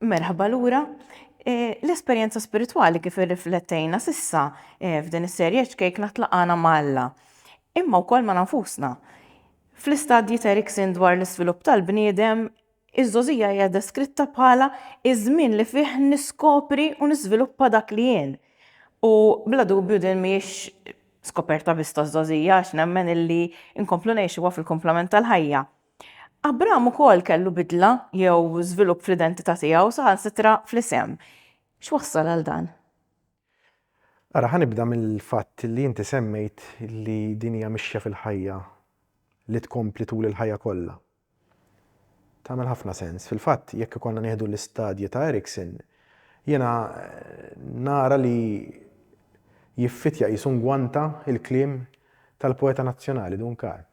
Merħba lura. E, l-esperjenza spiritwali kif irriflettejna sissa e, f'din is-serje ċkejk natlaqana ma' Alla, imma wkoll ma' nafusna. Fl-istadji ta' Erikson dwar l-iżvilupp tal-bniedem, iż-żożija hija deskritta bħala iż-żmien li fih niskopri u niżviluppa dak li jien. U bla dubju din mhijiex skoperta biss taż-żożija għax nemmen illi nkomplu ngħixuha fil-kumplament tal-ħajja. Abram ukoll kellu bidla jew żvilupp fl-identità tiegħu, saħansitra fl-isem. X'wassal għal dan? Ara, ħa nibda mill-fatt li inti semmejt li din hija mixja fil-ħajja li tkompli tul il-ħajja kollha. Tagħmel ħafna sens. Fil-fatt, jekk ikollna nieħdu l-istadji ta' Erikson, jiena nara li jiffittja qisu ngwanta l-kliem tal-poeta nazzjonali Dun Karm.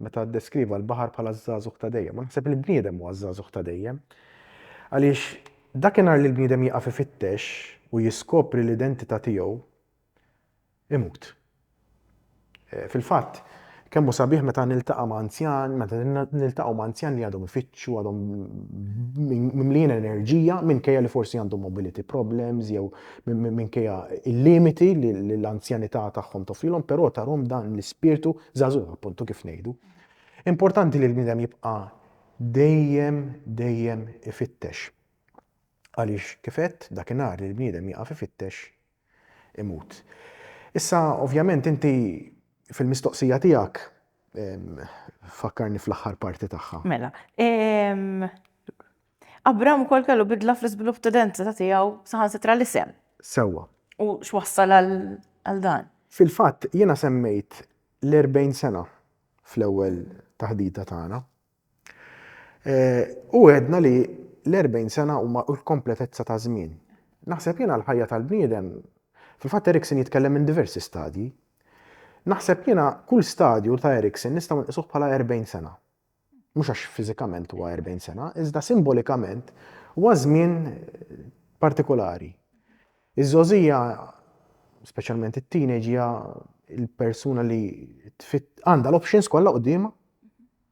meta ddeskriva l-baħar bħala ż-żagħżugħ ta' dejjem. U naħseb li l-bniedem huwa ż-żagħżugħ ta' dejjem. Għaliex dakinhar li l-bniedem jieqaf ifittex u jiskopri l-identità tiegħu, imut. Fil-fatt, kemm hu sabiħ meta niltaqa' ma' anzjan, meta niltaqgħu ma' anzjan li għadhom ifittxu, għadhom mimlijin enerġija minkejja li forsi għandhom mobility problems jew minkejja il-limiti li l-anzjanità tagħhom toffrilhom, però tarhom dan l-ispirtu żagħżugħ appuntu kif ngħidu. Importanti li l-bniedem jibqa' dejjem dejjem ifittex. Għaliex kifet dakinhar li l-bniedem jaqaf ifittex imut. Issa ovvjament inti fil-mistoqsija tiegħek fakkarni fl-aħħar parti tagħha. Mela, Abram ukoll kellu bidla fl-iżvilupp ta' identità tiegħu, saħansitra l-isem. Sewwa. U x'wassal għal dan? Fil-fatt, jiena semmejt l-erbgħin sena fl-ewwel taħdita tagħna. U għedna li l-erbgħin sena huma l-kompletezza ta' żmien. Naħseb jiena l-ħajja tal-bniedem, fil-fatt Erikson jitkellem minn diversi stadji. Naħseb jiena kull stadju ta' Erikson nistgħu nqisuh bħala erbgħin sena. mhux għax fiżikament huwa 40 sena, iżda simbolikament huwa żmien partikolari. Iż-żgħożija, speċjalment it-teenage, hija l-persuna li għandha l-options kollha quddiemha.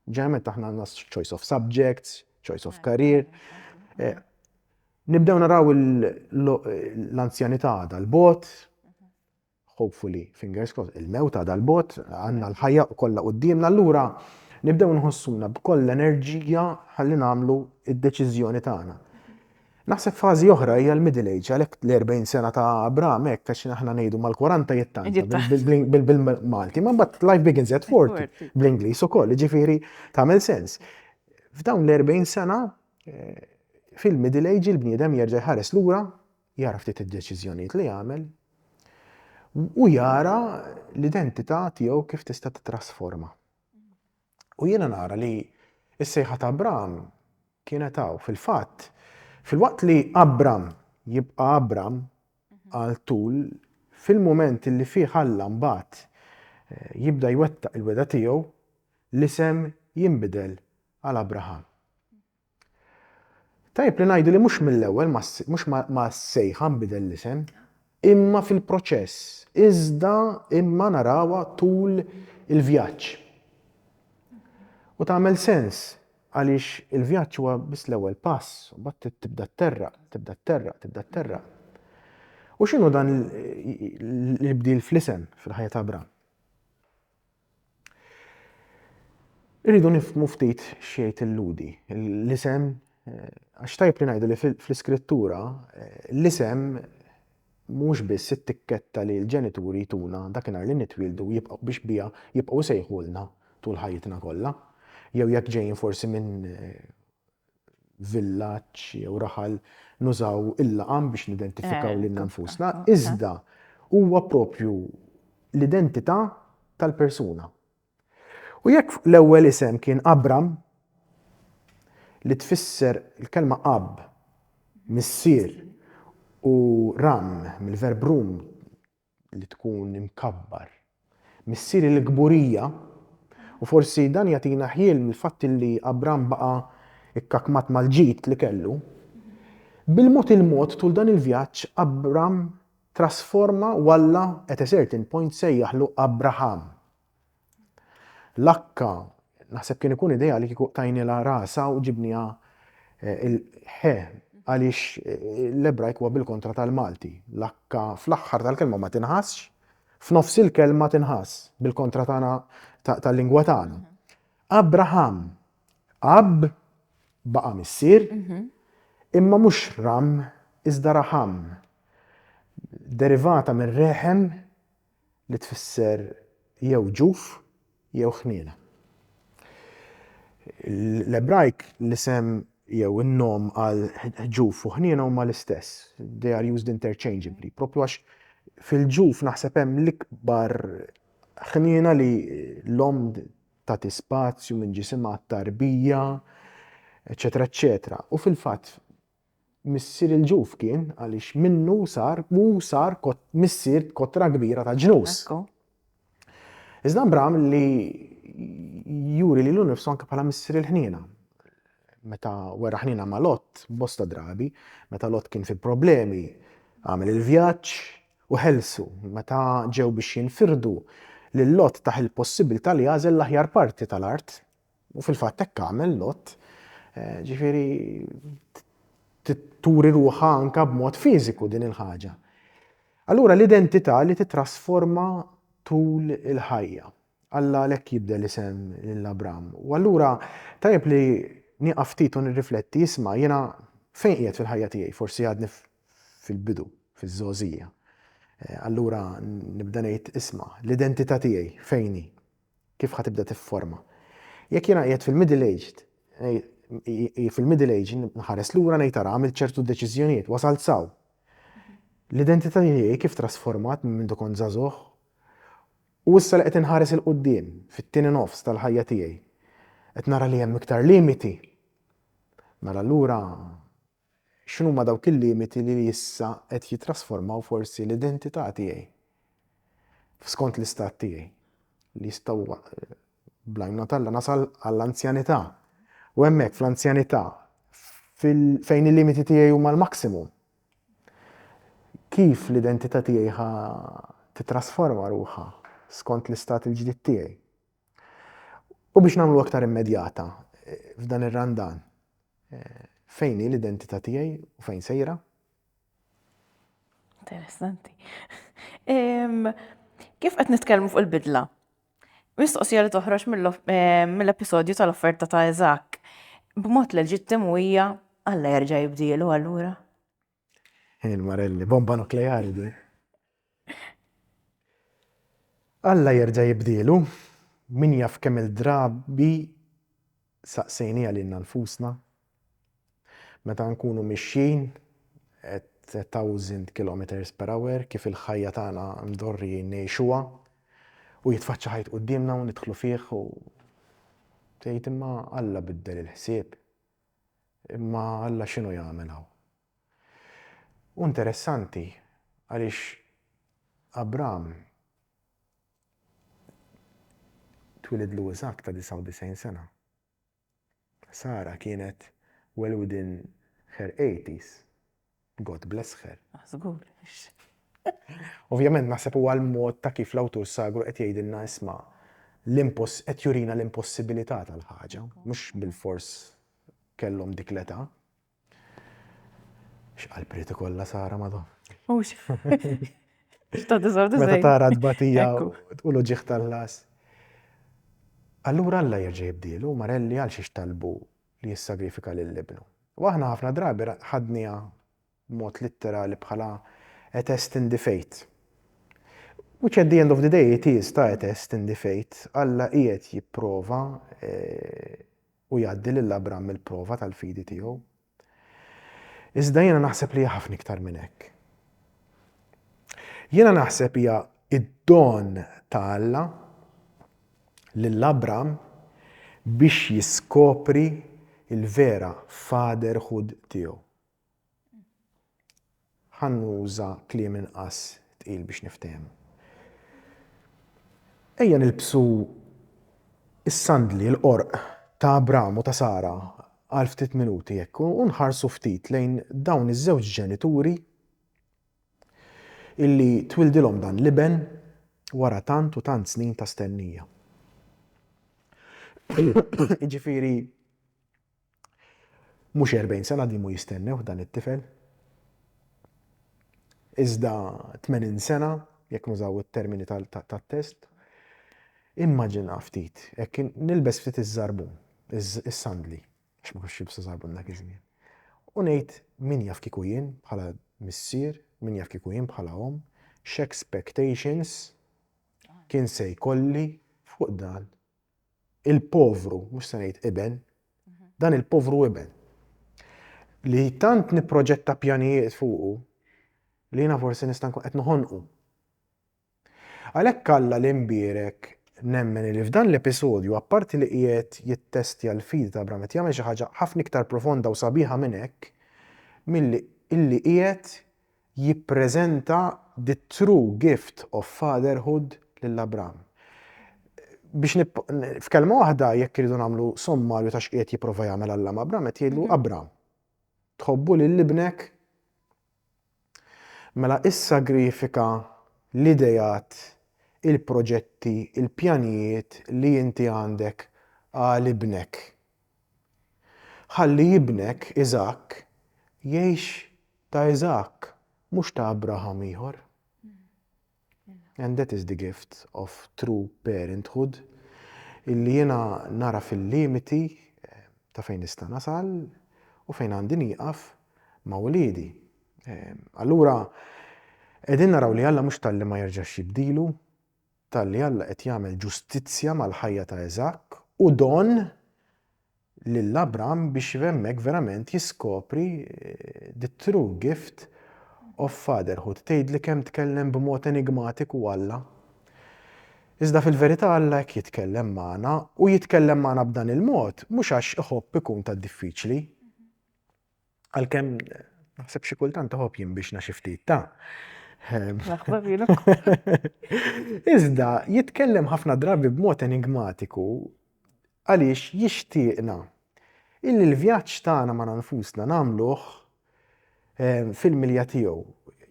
Ġeneralment aħna għandna choice of subjects, choice of career. Eh, nibdew naraw l-anzjanità għadha l-bot, hopefully, fingers crossed, il-mewt għadha 'l bogħod, għandna l-ħajja kollha quddiemna, allura nibdew nħossuna b'koll l-enerġija ħalli nagħmlu d-deċiżjoni tagħna. Naħseb fażi oħra hija l-middle age, għalhekk l-40 sena ta' Abraham hekk għax aħna ngħidu mal-40 jittanta bil-Malti, ma mbagħad life begins at 40 bl-Ingliż ukoll, ġifieri tagħmel sens. F'dawn l-40 sena eh, fil-middle age il-bniedem jerġa' jħares lura Jara ftit id-deċiżjonijiet li għamel u jara l-identità tiegħu kif tista' titrasforma. U jiena nara li s-sejħa ta' Abram kienet hawn fil-fatt fil-waqt li Abram jibqa' Abram għal tul fil-mument li fih Alla mbagħad eh, jibda jwettaq il-weda tiegħu l-isem jinbidel għal Abraham. Tajjeb li ngħidu li mhux mill-ewwel mhux mas-sejħa nbidel l-isem, imma fil-proċess, iżda imma narawha tul il-vjaġġ. U tagħmel sens għaliex il-vjaġġ huwa biss l-ewwel pass, u mbagħad tibda tterraq, tibda tterraq, tibda tterraq. U x'inhu dan l-bdil fl-isem fil-ħajja ta' Abram? Irridu nifmu ftit xejt illudi. L-isem, eh, għax tajb li ngħidu li fl-iskrittura eh, l-isem mhux biss it-tikketta li l-ġenituri tuna dakinhar li nitwieldu jibqgħu biex bija jibqgħu sejħulna tul ħajjitna kollha. Jew jekk ġejjin forsi minn eh, villaġġ jew raħal nużaw il-laqam biex nidentifikaw lilna nfusna, iżda huwa proprju l-identità tal-persuna. U jekk l-ewwel isem kien Abram, li tfisser il-kelma ab, missier, u Ram, mill-verb rum, li tkun imkabbar missier il-kburija, u forsi dan jagħtina ħjiel mill-fatt li Abram baqa' kkakmat mal-ġid li kellu. Bil-mod il-mod tul dan il-vjaġġ Abram trasforma u Alla at a certain point sejjaħlu Abraham, Lakka, naħseb kien ikun idea li kieku tajnila rasa u ġibnija eh, il-ħe għaliex eh, l-Ebrajk huwa bil-kontra tal-Malti. Lakka fl-aħħar tal-kelma ma tinħassx, f'nofs il-kelma tinħass bil-kontra tagħna tal-lingwa tagħna. Abraham, ab baqa' missier, mhm. imma mhux ram iżda raħam. Derivata minn reħem li tfisser jew ġuf jew ħniena. L-Ebrajk l-isem jew in-nom għal ġuf u ħniena huma l-istess. They are used interchangeably. Propju għax fil-ġuf naħseb hemm l-ikbar ħniena li l-om tagħti spazju minn ġisimha tarbija, eċetera, eċetera. U fil-fatt Missier il-ġuf kien, għaliex minnu sar, hu sar missier b'kotra kbira ta' ġnus. Iżda Abram li juri lilu nnifsu anke bħala missier il-ħniena. Meta wera ħniena ma' Lot, bosta drabi, meta Lot kien fi problemi, għamel il-vjaġġ u ħelsu, meta ġew biex jinfirdu, lil Lot tah il-possibilità li jagħżel l-aħjar parti tal-art. U fil-fatt hekk għamel Lot, ġifieri turi ruħha anke b'mod fiżiku din il-ħaġa. Allura l-identità li titrasforma tul il-ħajja. Alla għalhekk jibdel isem lil Abram. U allura tajjeb li nieqaf ftit u nirrifletti, isma' jiena fejn qiegħed fil-ħajja tiegħi, forsi għadni fil-bidu, fiż-żgħożija. Eh, allura nibda ngħid isma' l-identità tiegħi fejn hi. Kif ħa tibda tifforma? Jekk jiena qiegħed fil-middle aged, fil-middle age nħares lura ngħid ara għamilt ċertu deċiżjonijiet, wasalt saw. L-identità tiegħi kif trasformat minn mindu kont żagħżugħ? U issa li qed inħares 'il quddiem fit-tieni nofs tal-ħajja tiegħi, qed nara li hemm iktar limiti. Mela allura X'inhuma dawk il-limiti li issa qed jittrasformaw forsi l-identità tiegħi f'skont l-istat tiegħi, li jistgħu bl-għajnuna t'Alla nasal għall-anzjanità u hemmhekk fl-anzjanità fejn il-limiti tiegħi huma l-maximum. Kif l-identità tiegħi ħa tittrasforma ruħha skont l-istat il-ġdid tiegħi? U biex nagħmlu aktar immedjata f'dan ir-Randan, fejn hi l-identità tiegħi u fejn sejra? Interessanti. Kif qed nitkellmu fuq il-bidla? Mistoqsija li toħroġ mill-episodju tal-offerta ta' Eżak, b'mod leġittimu hija Alla jerġa' jibdielu allura. Ħin Marelli, bomba nukleari di. Alla jerġa' jibdielu, min jaf kemm il-drabi saqsejniha lilna nfusna, meta nkunu mixjin at a thousand kilometres per hour, kif il-ħajja tagħna mdorrijin ngħixuha, u jitfaċċa ħajt quddiemna u nidħlu fih u tgħid imma Alla biddel il-ħsieb. Imma Alla x'inhu jagħmel hawn? Hu interessanti għaliex Abram twielidlu Iżakk ta' 99 sena. Sara kienet well within her eighties. God bless her. Ah, żgur. Ovvjament naħseb huwa l-mod ta' kif l-awtur sagru qed jgħidilna isma' l-imposs qed jurina l-impossibilità tal-ħaġa, mhux bilfors kellhom dik l-età. X'qalb irid ikollha Sara madon. Mhux. X'ta' diżordu Meta tara tbatija u l-uġieħ tal-las. Allura Alla jerġa' jibdielu, Marelli għal xiex talbu li jissagrifika lil Ibnu. U aħna ħafna drabi ħadniha b'mod litterali bħala a test in the faith. Which at the end of the day it is ta' a test in the faith. Alla qiegħed jipprova u jgħaddi lil Abram mill-prova tal-fidi tiegħu. Iżda jiena naħseb li hija ħafna iktar minn hekk. Jiena naħseb hija id-don ta' Alla lil Abram biex jiskopri l-vera fatherhood tiegħu. Ħa nuża kliem inqas tqil biex niftehmu. Ejja nilbsu s-sandli, l-qorq ta' Abram u ta' Sara għal ftit minuti hekk u nħarsu ftit lejn dawn iż-żewġ ġenituri illi twildilhom dan l-iben wara tant u tant snin ta' stennija. Jiġifieri mhux erbgħin sena dimu jistennewh dan it-tifel, iżda tmenin sena, jekk nużaw it-termini tat-test, immaġina ftit, hekk nilbes ftit iż-żarbun, is-sandli, għax ma kienx jilbsu żarbun dak iż-żmien. U ngħid min jaf kieku jien bħala missier, min jaf kieku jien bħala omm, x'expectations kien se jkolli fuq dan il-povru, mhux se ngħid iben, dan il-povru iben. Li tant nipproġetta pjanijiet fuqu li jiena forsi nista' nkun qed noħonqu. Għalhekk Alla li nbierek, nemmen li f'dan l-episodju, apparti li qiegħed jittestja l-fidi ta' Abraham qed jagħmel xi ħaġa ħafna iktar profonda u sabiħa minn hekk milli illi qiegħed jippreżenta the true gift of fatherhood lil Abraham. Biex f'kelma waħda jekk irridu nagħmlu sommarju ta' x'qiegħed jipprova jagħmel Alla ma' Abraham qed jgħidlu Abraham tħobbu lil ibnek Mela issagrifika l-ideat, il-proġetti, il-pjanijiet li inti għandek għal ibnek. Ħalli ibnek, Iżakk, jgħix ta' Iżakk, mhux ta' Abraham ieħor. And that is the gift of true parenthood illi jiena nagħraf il-limiti ta' fejn nista' nasal u fejn għandi nieqaf ma' uliedi. Allura qegħdin naraw li Alla mhux talli ma jerġax jibdilu, talli Alla qed jagħmel ġustizzja mal-ħajja ta' Eżakk u don lil Abram biex hemmhekk verament jiskopri the true gift of fatherhood. Tgħidli kemm tkellem b'mod enigmatiku Alla? Iżda fil-verità Alla hekk jitkellem magħna u jitkellem magħna b'dan il-mod mhux għax iħobb ikun ta' diffiċli. Għalkemm naħseb xi kultant toħob jinbixna xi ftit ta'. Iżda jitkellem ħafna drabi b'mod enigmatiku għaliex jixtieqna illi l-vjaġġ tagħna ma' nfusna nagħmluh ehm, fil-milja tiegħu.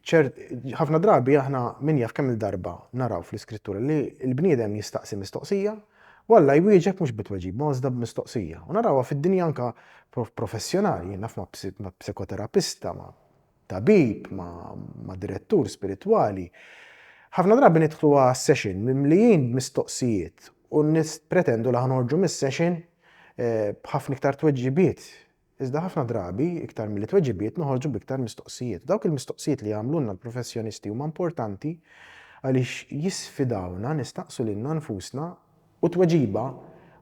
ħafna drabi aħna min jaf kemm il-darba naraw fl-iskrittura li l-bniedem jistaqsi mistoqsija U Alla jwieġeb mhux bi tweġiba ma iżda b'mistoqsija. U narawha fid-dinja anke professjonali, jien naf ma' psikoterapista, ma' tabib, ma' direttur spiritwali. Ħafna drabi nidħlu għas-session mimlijin b'mistoqsijiet u nippretendu li ħa noħorġu mis-session eh, b'ħafna iktar tweġibiet Iżda ħafna drabi, iktar milli tweġibiet, noħorġu b'iktar mistoqsijiet. Dawk il-mistoqsijiet li jagħmlulna l-professjonisti huma importanti għaliex jisfidawna nistaqsu lilna nfusna u t-tweġiba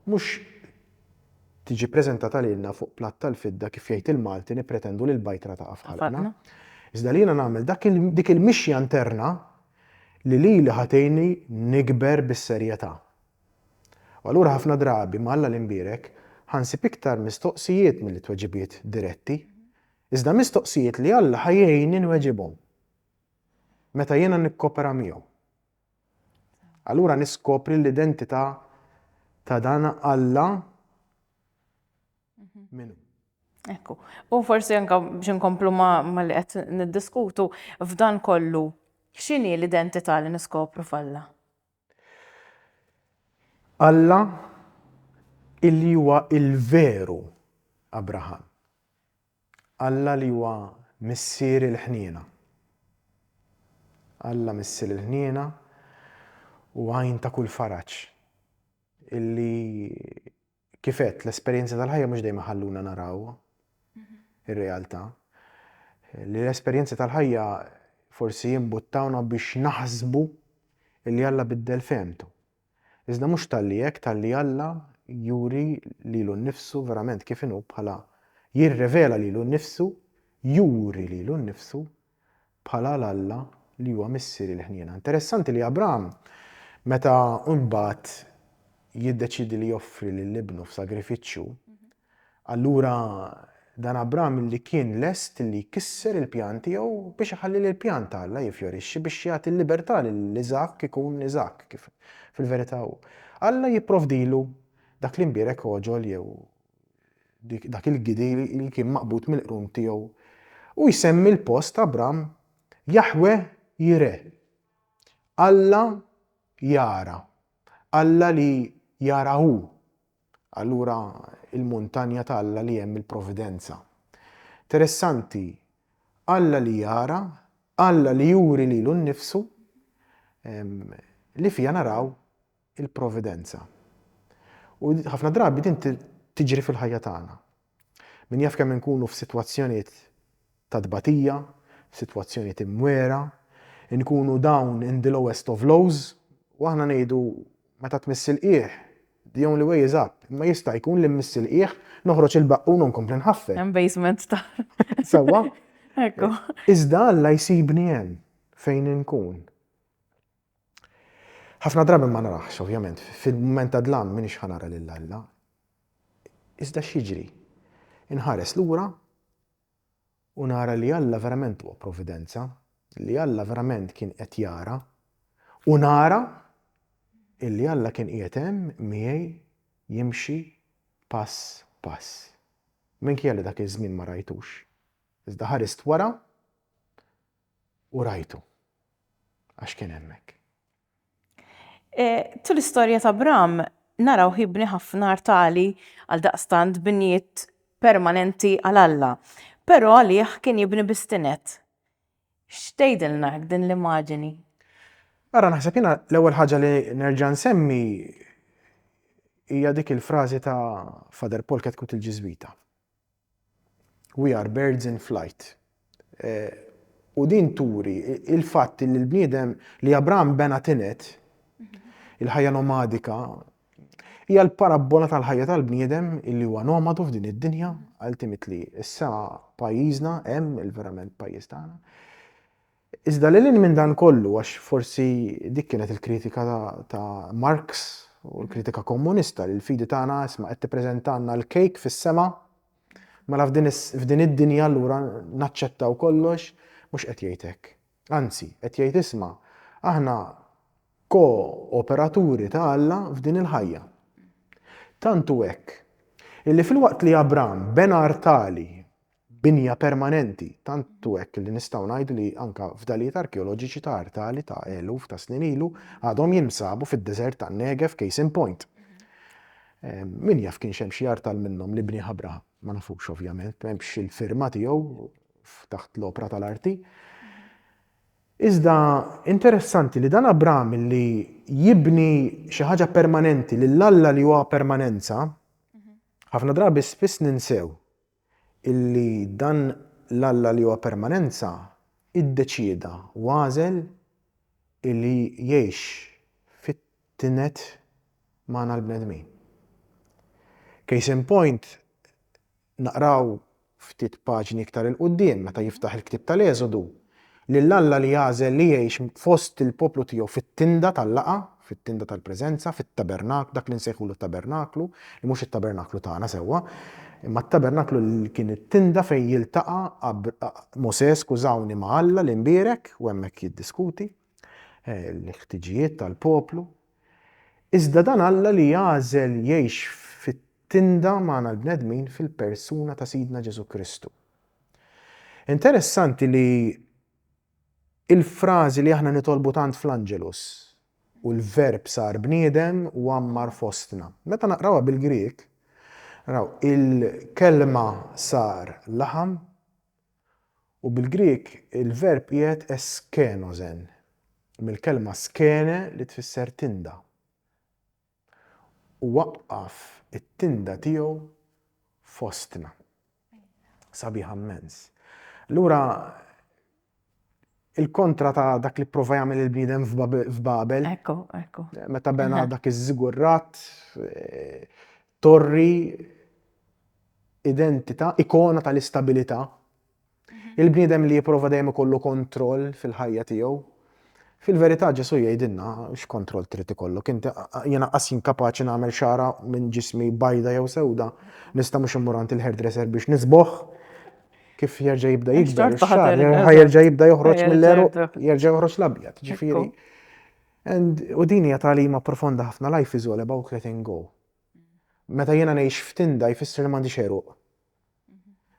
mhux tiġi ppreżentata lilna fuq platt tal-fidda kif jgħid il-Malti nippretendu li l-bajtra taqa' f'ħalqna. Iżda li jiena nagħmel dik il-mixja interna li lili ħa tgħinni nikber bis-serjetà. U allura ħafna drabi, ma' Alla li nbierek, ħa nsib iktar mistoqsijiet milli tweġibiet diretti. Iżda mistoqsijiet li Alla ħa jgħinni nweġibhom meta jiena nikkopera miegħu. Allura niskopri l-identità ta' dan Alla mhm. minnu. Ekku. U forsi anka biex nkomplu ma li qed niddiskutu f'dan kollu x'inhi l-identità li niskopru falla? Alla illi huwa l-veru Abraham. Alla li huwa Missier il-ħniena. Alla Missier il-ħniena u Għajn ta' kull faraġ illi Kif għedt, l-esperjenzi tal-ħajja mhux dejjem iħalluna naraw ir-realtà. Li l-esperjenzi tal-ħajja forsi jimbuttawna biex naħsbu li Alla biddel fehmtu. Iżda mhux talli hekk, talli Alla juri lilu nnifsu verament kif inhu bħala jirrevela lilu nnifsu, juri lilu nnifsu bħala l-Alla li huwa Missier il-ħniena. Interessanti li Abraham, meta mbagħad jiddeċiedi li joffri lil ibnu f'sagrifiċċju, allura dan Abraham li kien lest li jkisser il-pjan tiegħu biex iħalli lil pjan ta' Alla jiffjorixxi biex jagħti l-libertà lil Iżak ikun Iżak kif fil-verità hu. Alla jipprovdilu dak li mbierek oġol jew dak il-gidi li kien maqbud mill-qrun tiegħu, u jsemmi l-post Abram Jaħwe Jireh, Alla jara, Alla li jara hu, allura il-muntanja ta' Alla li hemm il-providenza. Interessanti, Alla li jara, Alla li juri lilu nnifsu, li fiha naraw il-Providenza. U ħafna drabi din tiġri fil-ħajja tagħna. Min jaf kemm inkunu f'sitwazzjonijiet ta' tbatija, f'sitwazzjonijiet imwiegħra, inkunu down in the lowest of lows, u aħna ngħidu, Meta tmiss il-qiegħ, the only way is up, imma jista' jkun li mmiss il-qiegħ, noħroġ il-baqqun u nkompli nħaffef. Hemm basement taħt. Sewwa? Ekku. Iżda Alla jsibni hemm fejn inkun. Ħafna drabi ma naraħx, ovvjament, fil-mument ta' dlam m'iniex ħa nara lil Alla. Iżda x'jiġri? Inħares lura u nara li Alla verament huwa providenza, li Alla verament kien qed jara u nara illi Alla kien qiegħed hemm miegħi jimxi pass pass. Minkejja li dak iż-żmien ma rajtux. Iżda ħarist wara U rajtu. Għax kien hemmhekk. Tul l-istorja ta' Abram narawh jibni ħafna artali, għaldaqstant binjiet permanenti għal Alla. Però għalih kien jibni biss tined. X'tgħidilna hekk din l-immaġini? Ara naħseb jiena l-ewwel ħaġa li nerġa' nsemmi hija dik il-frażi ta' Father Paul Ketcut il-Ġiżwita. We are birds in flight. U din turi il-fatt li l-bniedem li Abraham bena tinet, il-ħajja nomadika, hija l-parabbola tal-ħajja tal-bniedem illi huwa nomadu f'din id-dinja, ultimately issa pajjiżna hemm il-verament pajjiż tagħna. Iżda lil hinn minn dan kollu, għax forsi dik kienet il-kritika ta' Marx u l-kritika Kommunista li l-fidi tagħna isma' qed tippreżentalna l-kejk fis-sema, mela f'din id-dinja allura naċċettaw kollox, mhux qed jgħid hekk. Anzi, qed jgħid isma', aħna ko-operaturi ta' Alla f'din il-ħajja. Tant hu hekk, illi filwaqt li Abram bena artali binja permanenti, tant hu hekk li nistgħu ngħidu li anke fdalijiet arkeoloġiċi ta' artali ta' eluf ta' snin ilu għadhom jinsabu fid-deżert tan-Negev, case in point. Min jaf kienx hemm xi artal minnhom li bnieh Abraham? Ma nafux ovvjament, m'hemmx il-firma tiegħu taħt l-opra tal-arti. Iżda interessanti li dan Abraham li jibni xi ħaġa permanenti lil Alla li huwa permanenza, ħafna drabi spiss ninsew illi dan l-Alla li huwa permanenza iddeċieda u għażel illi jgħix fit-tnet magħna l-bnedmin. Case in point, naqraw ftit paġni iktar 'il quddiem meta jiftaħ il-ktieb tal-Eżodu, Lil Alla li għażel li jgħix fost il-poplu tiegħu fit-tinda tal-laqgħa, fit-tinda tal-preżenza, fit-tabernak, dak li nsejħulu t-tabernaklu, li mhux it-tabernaklu tagħna sewwa, imma t-tabernaklu li kien it-tinda fejn jiltaqa' Mosè, skużawni, ma' Alla l-Imbierek u hemmhekk jiddiskuti l-ħtiġijiet tal-poplu. Iżda dan Alla li għażel jgħix fit-tinda magħna l-bnedmin fil-persuna ta' Sidna Ġesù Kristu. Interessanti li l-frażi li aħna nitolbu tant fl-Angelus, u l-Verb sar bniedem u għammar fostna. Meta naqrawha bil-Grieg, naraw il-kelma sar laħam u bil-Grieg il-verb qiegħed eskenosen, mill-kelma skene li tfisser tinda. u waqqaf it-tinda tiegħu fostna. Sabiħa mmens. Allura il-kontra ta' dak li prova jagħmel il-bniedem f'Babel. Ekku, ekku. Meta bena dak iż-żigurrat, eh, torri identità, ikona tal-istabilità. Il-bniedem li jipprova dejjem ikollu kontroll fil-ħajja tiegħu. Fil-verità Ġesù jgħidilna x'kontroll trid ikollok int, jiena qas inkapaċi nagħmel xagħra minn ġismi bajda jew sewda, nista' mhux immur għand il-hairdresser biex nisboħ, kif jerġa' jibda jikber ix-xagħar, jerġa' jibda joħroġ mill-għeruq, jerġa' joħroġ l-abjad, ġifieri. U din hija tagħlima profonda ħafna, life is all about letting go. Meta jiena ngħix f'tinda jfisser li m'għandix għeruq.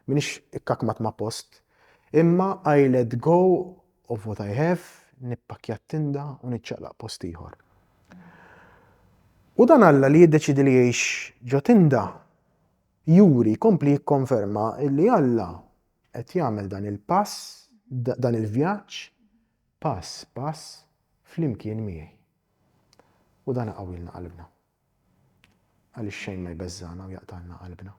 M'iniex ikkakmat ma' post. Imma I let go of what I have, nippakkja t-tinda u niċċaqlaq post ieħor. U dan Alla li jiddeċiedi li jgħix ġo tinda juri, jkompli jikkonferma li Alla qed jagħmel dan il-pass, dan il-vjaġġ pass pass flimkien miegħi. U dan iqawwilna qalbna. Għaliex xejn ma jbeżżagħna u jaqtagħlna qalbna.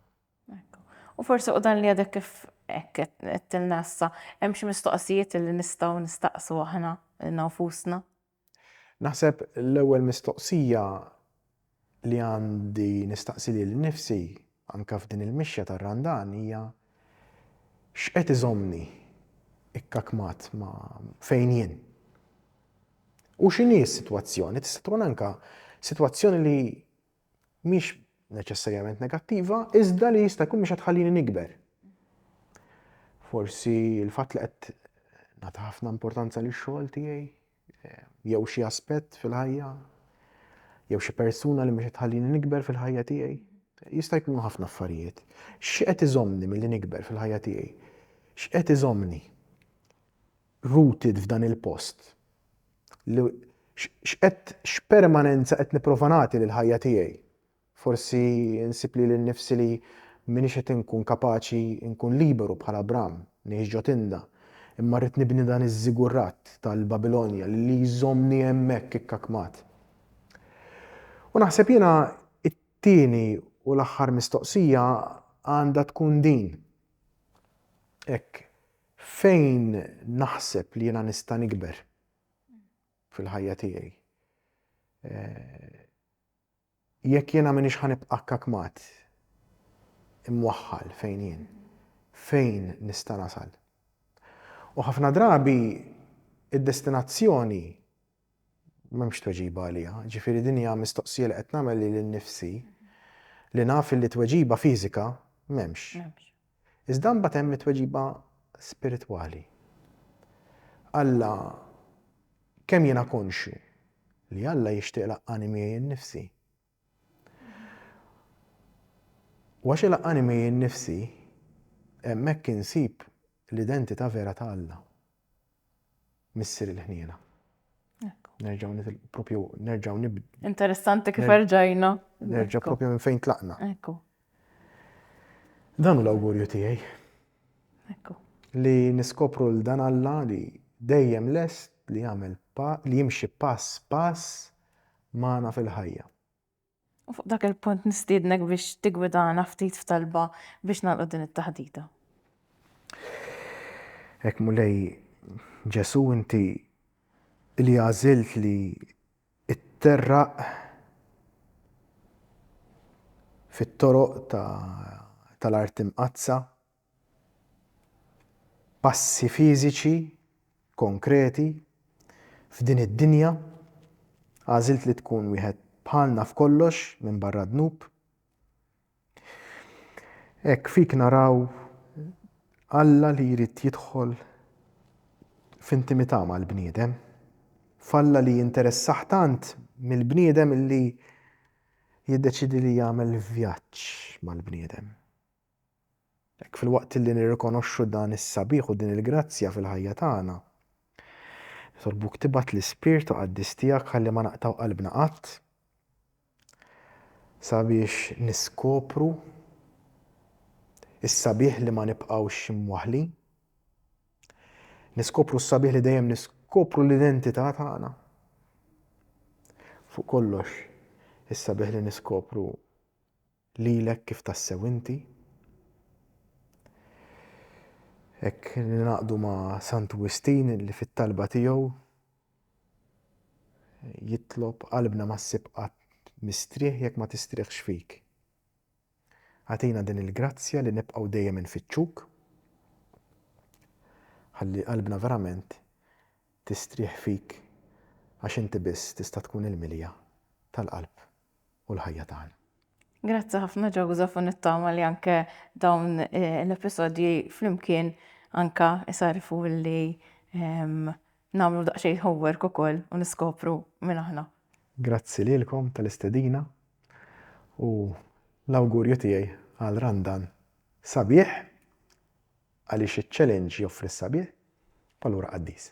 Ekku. U forsi u dan li għadek kif hekk qedtilna issa, hemm xi mistoqsijiet li nistgħu nistaqsu aħna lilna nfusna? Naħseb l-ewwel mistoqsija li għandi nistaqsi lili nnifsi Anke f'din il-mixja tar-Randan hija x'qed iżommni ikkakmat ma' fejn jien. U x'inhi s-sitwazzjoni? Tista' tkun anke sitwazzjoni li mhix neċessarjament negattiva, iżda li jista' jkun mhix qed tħallini nikber. Forsi l-fatt li qed nagħti ħafna importanza lix-xogħol tiegħi, jew xi aspett fil-ħajja, jew xi persuna li mhux tħallini nikber fil-ħajja tiegħi. Jista' jkunu ħafna affarijiet. X'qed iżommni milli nikber fil-ħajja tiegħi? X'qed iżommni rooted f'dan il-post? X'qed x'permanenza qed nipprova nagħti lill-ħajja tiegħi? Forsi nsib lili nnifsi li m'iniex qed inkun kapaċi nkun liberu bħal Abram, ngħix ġo tinda, imma rrid nibni dan iż-żigurrat tal-Babilonja li li jżommni hemmhekk ikkakmat. U naħseb jiena t-tieni u l-aħħar mistoqsija għandha tkun din. Hekk, fejn naħseb li jiena nista' nikber fil-ħajja tiegħi? Eh, Jekk jiena m'iniex ħa nibqa' kakmat, imwaħħal fejn jien, fejn nista' nasal? U ħafna drabi id-destinazzjoni m'hemmx tweġiba għaliha. Jiġifieri din hija mistoqsija li qed nagħmel lili nnifsi li naf illi tweġiba fiżika m'hemmx. Iżda mbagħad hemm it-tweġiba spiritwali. Alla kemm jiena konxju li Alla jixtieq ilaqqani miegħi nnifsi. U għax ilaqqani miegħi nnifsi, hemmhekk insib l-identità vera ta' Alla. Missier il-ħniena. Nerġaw nitilqu propju, nerġaw nib. Interessanti kif erġajna. Nerġaw propju minn fejn tlaqna. Ekku. Dan u l-awgurju tiegħi. Ekku. Li niskopru l-dan Alla li dejjem lest li jagħmel li jimxi pass pass magħna fil-ħajja. U fuq dak il-punt nistiednek biex tigwidana ftit f'talba biex nagħlqu din it-taħdita. Ek Mulej Ġesu inti li għażilt li itterraq fit-toroq tal-art imqaddsa Passi fiżiċi konkreti f'din id-dinja, għażilt li tkun wieħed bħalna f'kollox minbarra d-dnub. Hekk fik naraw Alla li jrid jidħol f'intimità mal-bniedem, f'Alla li jinteressah tant mill-bniedem li jiddeċiedi li jagħmel vjaġġ mal-bniedem. Hekk, filwaqt li nirrikonoxxu dan is-sabiħ u din il-grazzja fil-ħajja tagħna, nitolbuk tibgħat l-ispirtu qaddis tiegħek ħalli ma naqtgħu qalbna qatt sabiex niskopru s-sabiħ li ma nibqgħux imwaħħlin, niskopru s-sabiħ li dejjem niskopru l-identità tagħna. Fuq kollox, is-sabiħ li niskopru Lilek kif tassew inti. Hekk ningħaqdu ma' Santu Wistin li fit-talba tiegħu jitlob qalbna ma ssib qatt mistrieħ jekk ma tistrieħx fik. Agħtina din il-grazzja li nibqgħu dejjem infittxuk ħalli qalbna verament tistrieħ fik għax inti biss tista' tkun il-milja tal-qalb u l-ħajja tagħna. Grazzi ħafna Joseph u nittama li anke dawn eh, l-episodji flimkien anka isarfu li ehm, namlu daqsxejn homework ukoll u niskopru minn aħna. Grazzi lilkom tal-istedina u l-awgurju tiegħi għal Randan sabiħ għaliex iċ-challenge joffri s-sabiħ, allura qaddis.